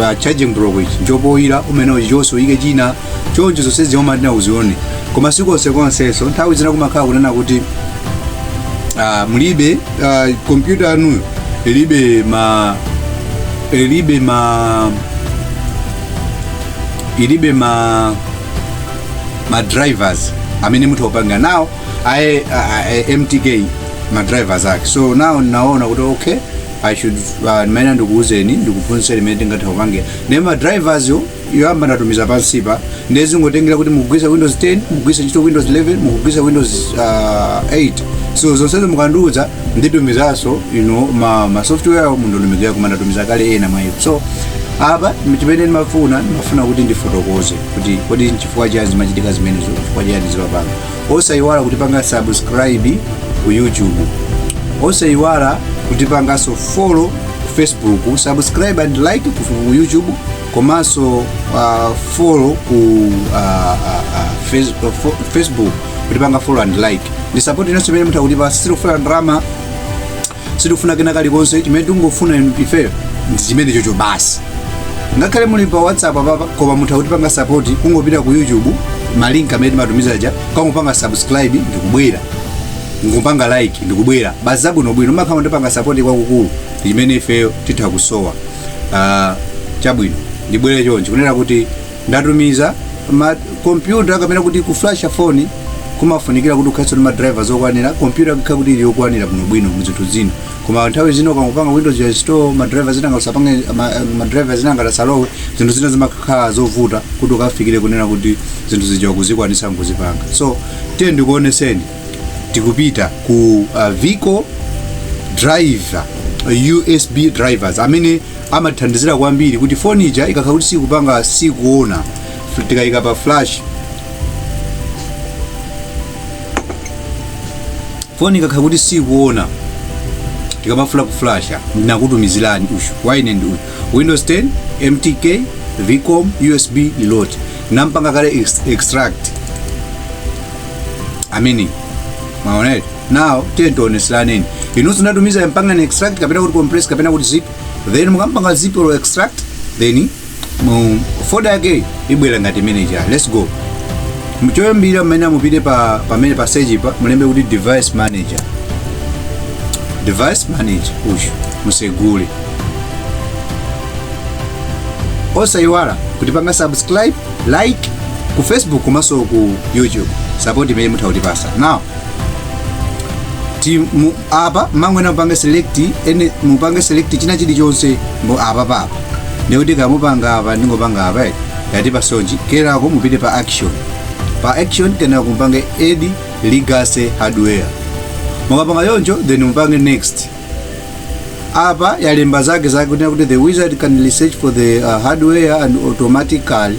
pa charging block ichi nchopoyira umene uchi chonse uyike china choncho zonse zimatha uzione koma sikonsekonsenso nthawi zina kumakhala kunena kuti ah, mulibe ah, kompyuta yanuyo ilibe ma ilibe ma ilibe ma ma drivers amene mutha kupanga nawo aye a- a- a- mtk ma drivers ake so now ndinaona kuti okay i should uh, mmene ndikuuzeni ndikuphunzitseni mmene tingatha kupangira ne ma drivers yo yoyamba ndatumiza pansipa ndiye zingotengera kuti mukugwiritsa windows 10 mukugwiritsa ntchito windows 11 mukugwiritsa windows uh, 8 so zonsezo mukandiuza nditumizanso ino ma, ma software awo mundotumizira koma ndatumiza kale ena mwa iwo so apa chimene ndimafuna ndimafuna kuti ndifotokoze kuti kodi nchifukwa chani zimachitika zimenezo chifukwa chani zimapanga osayiwala kutipanga subscribe ku youtube osayiwala kutipanganso follow ku facebook subscribe and like ku youtube komanso uh, follow ku uh, uh, uh, face, uh, fo- facebook kutipanga follow and like ndi support inunso imene mutha kutipasa sitikufuna ndalama sitikufuna kena kalikonse chimene tingofuna ifeyo ndi chimenechocho basi ngakhale muli pa whatsapp apapa koma mutha kutipanga sapoti kungopita ku youtube malinki amene timatumiza aja kungopanga subscribe ndikubwera ngopanga like ndikubwera basi zabwinobwino mwakhala mutipanga sapoti kwakukulu ndi chimene ifeyo titha kusowa Ah, chabwino ndibwere choncho kunena kuti ndatumiza ma kompyuta kapena kuti kuflasha foni kumafunikira kuti ukhalenso ndi ma drivers okwanira kompyuta ikhala kuti ili yokwanira bwinobwino mu zinthu zina koma nthawi zina ukangopanga windows install ma drivers zina ngausapange ma, ma drivers zina ngatasalowe zinthu zina zimakhala zovuta kuti ukafikire kunena kuti zinthu zija ukuzikwanisa nkuzipanga so tiye ndikuoneseni tikupita ku uh, vcom driver usb drivers amene amathandizira kwambiri kuti foni ija ikakhala kuti sikupanga sikuona fl- tikayika pa flash foni ikakhala kuti sikuona tikamafuna kuflasha ndinakutumizirani uyu wina ndi uyu windows 10 mtk vcom usb preloader nampanga kale ex- extract amene maonere nawo tiye tioneseraneni inunso natumiza mpangani extract kapena kuti compress kapena kuti zip then mukampanga zip or extract then mu folder yake ibwera ngati imene ija let's go mchoyambira mmene mupite pa pamene pa search pa mulembe kuti device manager device manager uyu musegule osayiwala kutipanga subscribe like ku facebook komanso ku youtube support imene mutha kutipasa now ti mu- apa mangwena mupange select ene mupange select china chilichonse mbo apa papa ndikuti kamupanga apa ndingopanga apa eh, yati pasonji kenako mupite pa action pa action kenako mupange add legacy hardware mukapanga choncho then mupange next apa yalemba zake zake kuti kuti the wizard can research for the uh, hardware and automatically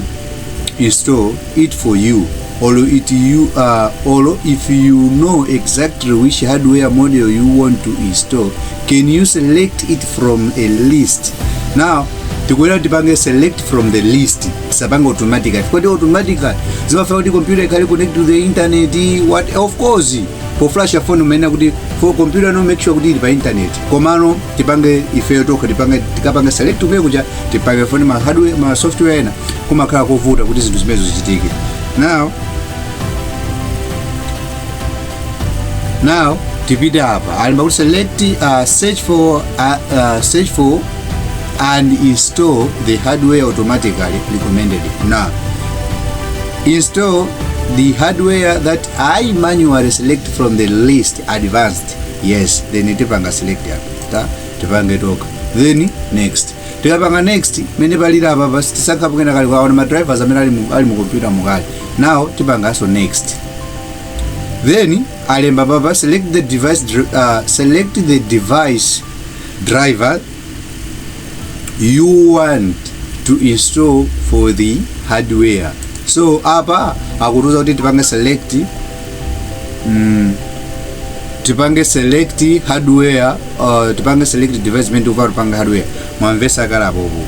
install it for you or it you uh, or if you know exactly which hardware model you want to install can you select it from a list now tikuyenera tipange select from the list tisapange automatically kodi automatically zimafuna kuti computer ikhale connect to the internet what of course poflasha phone umayenera kuti for computer no make sure kuti ili pa internet komano tipange ifeyo tokha tipange tikapange select kumene kuja tipange phone ma hardware ma software ena kumakhala kovuta kuti zinthu zimenezo zichitike now now tipite apa alemba kuti select uh, search for uh, uh, search for and install the hardware automatically recommended now install the hardware that i manually select from the list advanced yes then tipanga select apa ta tipange toka then next tikapanga next mmene paliri apa basi tisankhapo kena kali kwaona ma drivers amene ali mu, ali mu computer mu kale now tipanganso next then alemba apapa select the device dr- uh, select the device driver you want to install for the hardware so apa akutiuza kuti tipange select mm, tipange select hardware uh, tipange select device imene tikufuna tipange hardware mwamvesa kale bhobho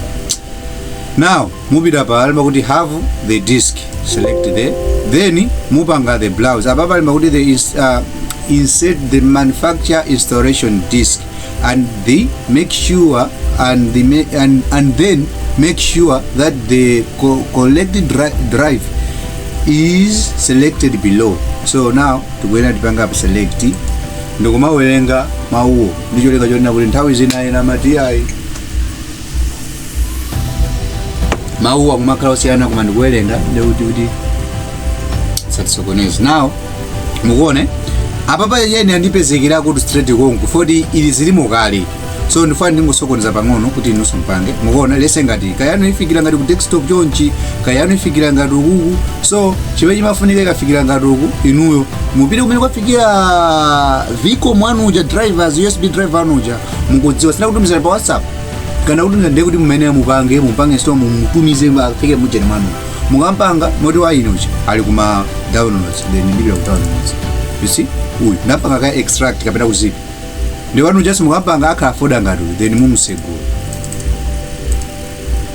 now mupita apa alemba kuti have the disk select the then mupanga the browse apapa alemba kuti the ins, uh, insert the manufacturer installation disk and they make sure and they may, and, and then make sure that the co- corrected dri- drive is selected below so now tikuyenera tipange apa select ndikumawerenga mawuwo ndicholinga chonena kuti nthawi zina ena amati ayi mawuwa akumakhala osiyana koma ndikuwerenga ndikuti kuti asatisokoneze now mukuone apapa yeni andipezekera kuti straight konko poti izi zilimo kale so ndifuna ndingosokoneza pang'ono kuti inunso mpange mukuona let's say ngati kaya yanu ifikira ngati ku desktop chonchi kaya yanu ifikira ngati ukuku so chimene chimafunika ikafikira ngati uku inuyo mupite kumene kwafikira vcom anu aja drivers usb driver anu aja mukudziwa sina kutumizana pa whatsapp kana kuti nde kuti mumayenera mupange mupange so mumutumize afike mu ujeni mwanu mukampanga moti wa inochi ali kuma downloads then ndipita ku downloads you see uyu ndapanga kale extract kapena ku zip nde wanu just mukampanga akhala foda ngati uyu then mumusegula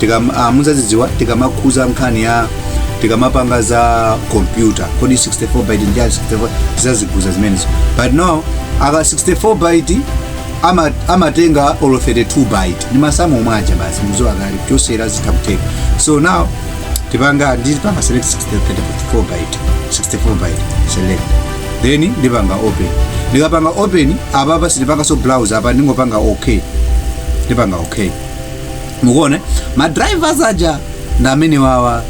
tikam, ah, muzazidziwa tikamakhuza nkhani ya tikamapanga za kompyuta kodi 64 byte ndi chani 64 tizazikhuza zimenezo but now aka 64 byte ama- amatenga olo 32 byte ndi masamu omwe aja basi muzo akali kuchosera zitha kutheka so now tipanga ndipanga select 64 byte 64 byte select then ndipanga open ndikapanga open apapa sindipanganso browse apa ndingopanga okay ndipanga okay mukuona ma drivers aja ndi amene wawa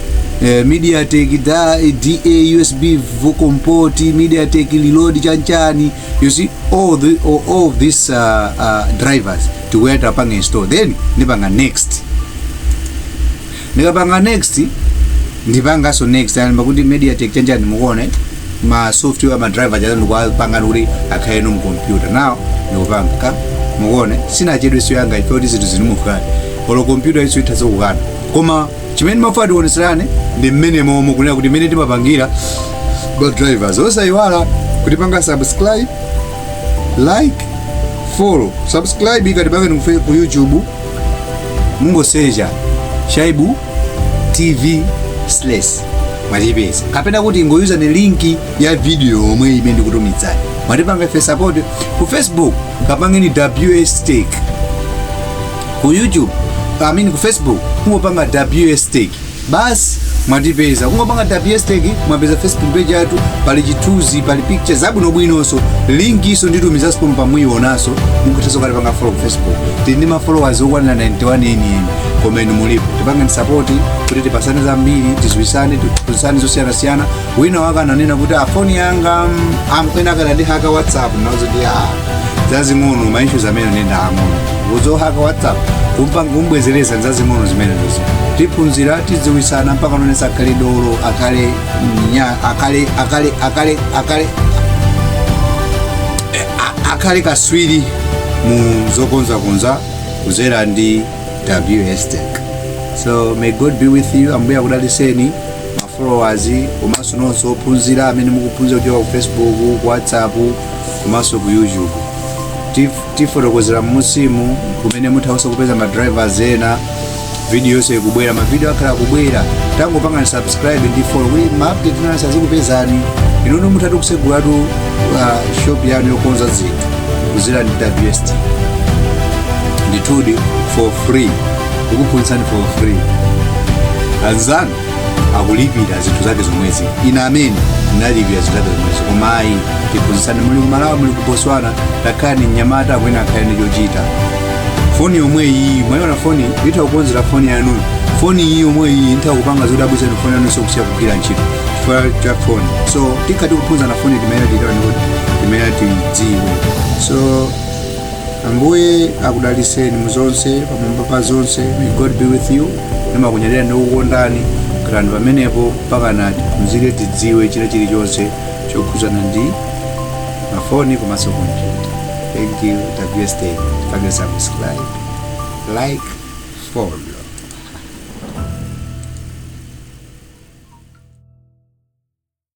eh, mediatek da da usb vcom port mediatek preloader chanchani you see all, the, all, all of these uh, uh, drivers tikuwapanga install then ndipanga next ndikapanga next ndipanganso next alemba kuti mediatek chanchani mukuona ma software ma driver aja ndikuwapanga kuti akhale eno m' computer now ndikupanga ka mukuone sinachedwe sio yanga ife kuti zinthu zinamukana olo computer iso itha zokukana koma chimene ndimafuna tioneserane ndi mmene momwe kunena kuti mmene timapangira ma drivers osayiwala kutipanga subscribe like follow subscribe mukatipange ifeyo ku youtube mungosecha shaibu tv slash mwatipeza kapena kuti mungoyuza linki ya video yomwe imene ndikutumizani mwatipanga ife support ku facebook kapangeni ws tech ku youtube I mean ku facebook kungopanga ws tech basi mwatipeza kungopanga ws tech mwapeza facebook page yathu pali chithunzi pali picture zabwinobwinonso linkiso nditumizaso pomwe pamuyionaso mukuthanso kukatipanga follow ku facebook tindi ma followers okwanira 91 enieni koma inu mulipo tipangeni sapoti kuti tipasane zambiri tiziwisane tiphunzisane zosiyanasiyana wina wake ananena kuti phone yanga mm, am- ena anandihaka whatsapp nazo ndi zazing'ono ma issues amene ndi aang'ono kuzohaka whatsapp kumpanga kumbwezeleza ndi zazing'ono zimene ndizo tiphunzira tiziwisana mpaka nonse akhale dolo akhale nya akhale akhale akhale akhale a- akhale kaswiri mu zokonzakonza kudzera ndi WS Tech. So may God be with you. Ambuye akudaliseni ma followers komanso nonse ophunzira amene mukuphunzira kuchoka ku Facebook, ku WhatsApp komanso ku YouTube. Tif- Tifotokozera mmusimu kumene muthanso kupeza ma drivers ena video yonse ikubwera mavidiyo akhala akubwera tangotipangani subscribe ndi follow kuti maupdate onse azikupezani inuyo muthatu kusegulatu uh, shop yanu yokonza zinthu kuzera ndi ws tech ndithudi for free kukuphunzitsani for free anzanu akulipira zinthu zake zomwezi ine amene ndinalipira zinthu zake zomwezi koma ayi tiphunzitsane muli kumalawi muli ku botswana takhala ndi mnyamata amene akhale ndi chochita foni yomwe iyi mwayiona foni itha kukonzera foni yanu foni iyi yomwe iyi itha kupanga zoti abwezeni foni yanu sokusiya kugwira ntchito chifukwa cha foni so tikhala ti kuphunzana foni timene titani kuti timene tidziwe so ambuye akudaliseni muzonse pamwamba pa zonse may god be with you ndimakunyadira ndikukondani khalani pamenepo mpakana timuzike tidziwe china chilichonse chokhuzana ndi mafoni komanso kompyuta thank you WS Tech subscribe like follow